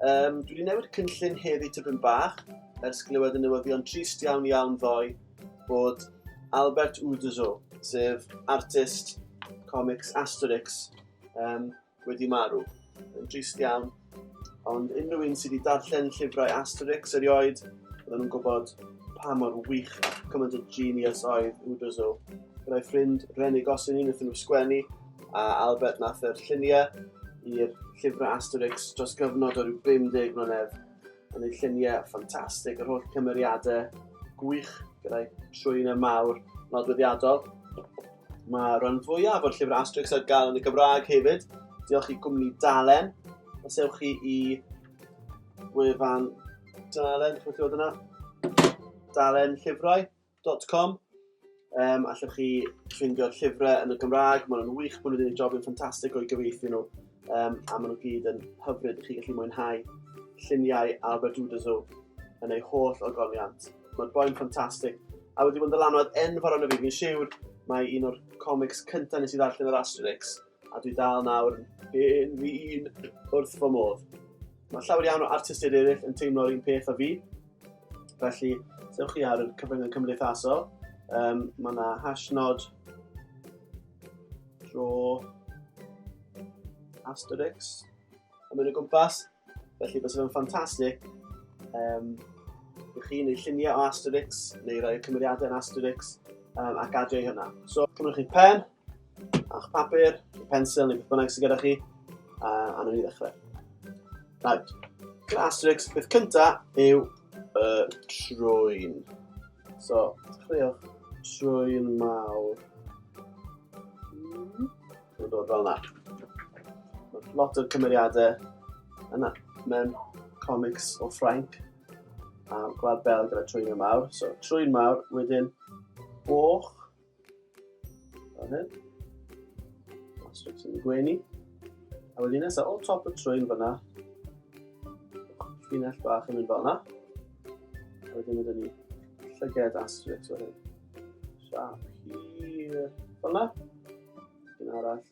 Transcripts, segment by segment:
Um, dwi wedi newid cynllun heddi tipyn bach, ers glywed y newyddion trist iawn iawn ddoe bod Albert Uderzo, sef artist comics Asterix, um, wedi marw. Yn trist iawn. Ond unrhyw un sydd wedi darllen llyfrau Asterix erioed, oedden nhw'n gwybod pa mor wych ac cymaint o genius oedd Uderzo. Byddai ffrind Renig Gosling yn wrth nhw sgwennu, a Albert nath yr llunie i'r llyfre Asterix dros gyfnod o ryw 50 mlynedd yn ei llunie ffantastig, yr holl cymeriade gwych gyda'i trwyne mawr nodweddiadol. Mae rhan fwyaf o'r llyfre Asterix ar gael yn y Gymraeg hefyd. Diolch i gwmni Dalen. Os ewch chi i wefan Dalen, chi'n dod yna? Dalen llyfrau. www.llyfraucymru.com um, Allwch chi ffindio'r llyfrau yn y Gymraeg, maen nhw'n wych, maen nhw wedi gwneud job yn ffantastig o'i gyfeithi nhw, um, a maen nhw gyd yn hyfryd, chi gallu mwynhau lluniau Albert Uderzo yn ei holl ogoniant. Mae'r boi'n ffantastig, a wedi bod yn ddylanwad enfawr arno fi, fi'n siwr mae un o'r comics cyntaf nes i ddarllen yr Asterix, A dwi dal nawr yn fi un wrth fy modd. Mae llawer iawn o artistiaid eraill yn teimlo'r un peth o fi. Felly, sewch chi ar y cyfryngau cymdeithasol. Um, mae yna hashnod dro Asterix yn mynd o gwmpas. Felly, bys fe'n ffantastig um, i chi neu lluniau o Asterix neu roi cymeriadau yn Asterix um, ac adio i hynna. So, cymryd chi pen, A'ch papur, pensel neu beth bynnag sydd gyda chi, a, a nhw'n i ddechrau. Right. Class tricks, beth cyntaf yw y trwy'n. So, dechreuwch trwy'n mawr. Mae'n dod fel yna. Mae lot o cymeriadau yna mewn comics o Ffrainc a Gwlad Belg gyda trwy'n mawr. So, trwy'n mawr, wedyn boch, Fan hyn. A strips yn y gwenu. A wedyn nesaf, o top y trwyn fyna, llinell bach yn mynd fel yna. A wedyn ydyn ni llyged a strips o hyn. Siap hir fel yna. Un arall.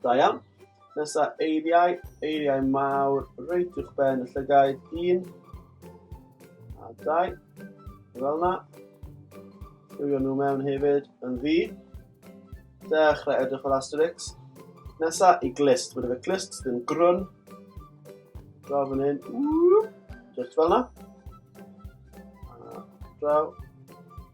Da iawn. Nesa eiriau, eiriau mawr, reit i'ch ben y llygaid, un, a dau, fel yna. Rwy'n nhw mewn hefyd yn ddi. Dechrau edrych fel Asterix. Nesa i glist, mae'n efe glist, ddim grwn. Draw fan hyn, just fel yna. Draw,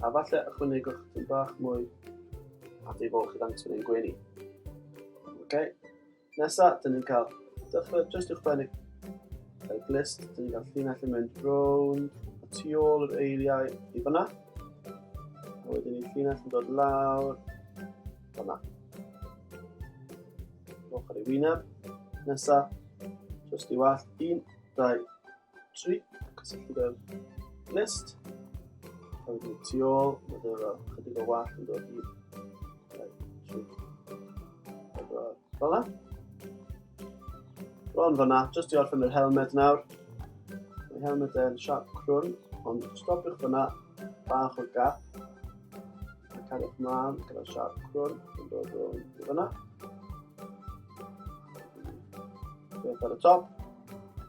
A falle ychwanegwch yn bach mwy at ei fol chi ddangos yn ein gwenu. Okay. Nesa, dyn ni'n cael dechrau jyst i'ch bennig y glist, dyn ni'n cael llinell yn mynd rown y tu ôl yr eiliau i fyna. A wedyn ni'n llinell yn dod lawr fyna. Ochr i wyneb. Nesa, jyst i wall, un, dau, tri, cysylltu gyda'r list. A wedyn tu ôl, mae dweud fel chydig o wall yn dod i fel yna. Bron fanna, jyst i orffen yr helmed nawr. Mae helmed yn siap crwn, ond stopiwch fanna bach o gap. Mae cariwch mlaen gyda siap crwn yn dod o fanna. Beth ar y top.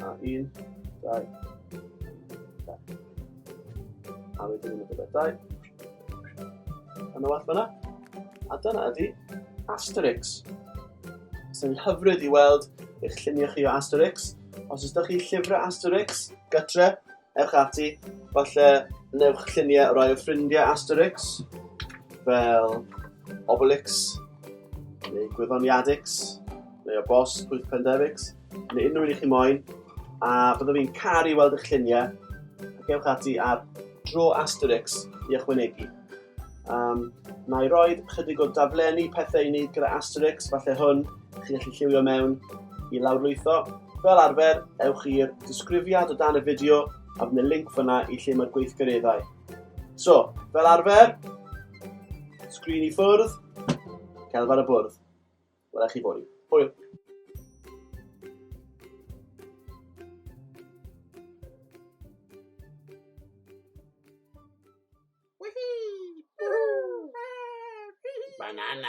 A un, dau, dau. A wedyn yn y gyda dau. Yn y well fyna. A dyna ydi Asterix. Sy'n hyfryd i weld eich lluniau chi o Asterix. Os ydych chi llyfrau Asterix, gytre, ewch ati, falle newch lluniau rhai o ffrindiau Asterix, fel Obelix, neu Gwyddoniadix, neu o bos Pwyth Pendefix, neu unrhyw un i chi moyn, a byddwn fi'n caru weld eich lluniau, ac ewch ati ar dro Asterix i ychwanegu. Um, na i roi chydig o daflenni pethau i wneud gyda Asterix, falle hwn, chi'n gallu lliwio mewn i lawrlwytho. Fel arfer, ewch i'r disgrifiad o dan y fideo a bydd y link fyna i lle mae'r gweithgareddau. So, fel arfer, sgrin i ffwrdd, celf ar y bwrdd. Wela chi fory. Hwyl. Banana.